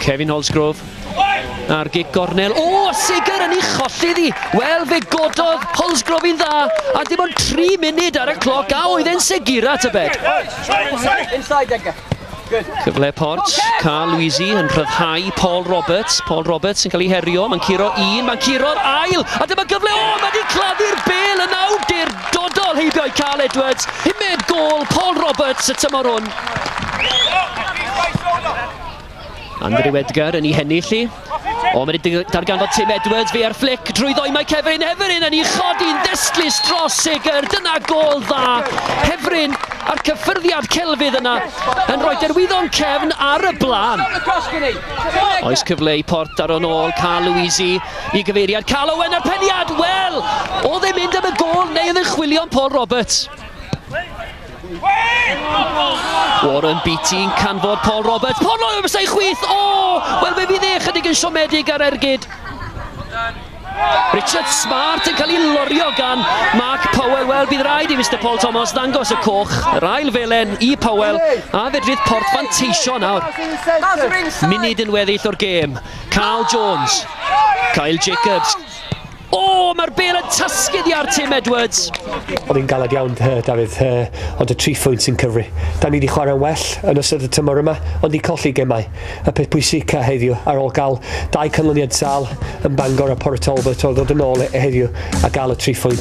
Kevin Holsgrove a'r gig gornel. O, oh, Sigur yn ei cholli ddi. Wel, fe gododd Holsgrove i'n dda, a dim ond 3 munud ar y cloc, a oedd e'n Sigur at y bed. Inside, Edgar. Cyfle Port, Carl Luisi yn rhyddhau Paul Roberts. Paul Roberts yn cael ei herio, mae'n curo un, mae'n curo'r ail, a dyma gyfle, o, mae wedi claddu'r bel yn awdurdodol heibio i Carl Edwards. Pumed gol Paul Roberts y tymor hwn. Andrew Edgar yn ei hennill i. O, mae'n darganfod Tim Edwards, fe ar fflic drwy ddoi mae Cefrin Hefferyn yn ei chodi'n ddestlus dros Seger. Dyna gol dda. Hefferyn a'r cyffyrddiad celfydd yna yn rhoi derwyddo'n cefn ar y blaen. Oes cyfle i port ar o'n ôl, Carl Louisi i gyfeiriad Carl Owen a'r peniad. Wel, oedd e'n mynd am y gol neu oedd e'n chwilio'n Paul Roberts? Warren Beatty yn canfod Paul Roberts. Paul Roberts ei chwith! O! Oh! Wel, fe fydd e chydig yn siomedig ar ergyd. Richard Smart yn cael ei lorio gan Mark Powell. Wel, bydd rhaid i Mr Paul Thomas ddangos y coch. Yr ail felen i Powell a fedrith port fanteisio nawr. Munud yn weddill o'r gêm. Carl Jones. Kyle Jacobs. O, mae'r bel yn tasgyd i ar Tim Edwards. Oedd hi'n galed iawn, uh, Dafydd, uh, ond y tri phwynt sy'n cyfri. Da ni wedi chwarae well yn ystod y tymor yma, ond i colli gemau. Y peth pwysica heddiw, ar ôl gael dau canlyniad sal yn Bangor a Port Talbot, oedd dod yn ôl e heddiw a gael y tri phwynt.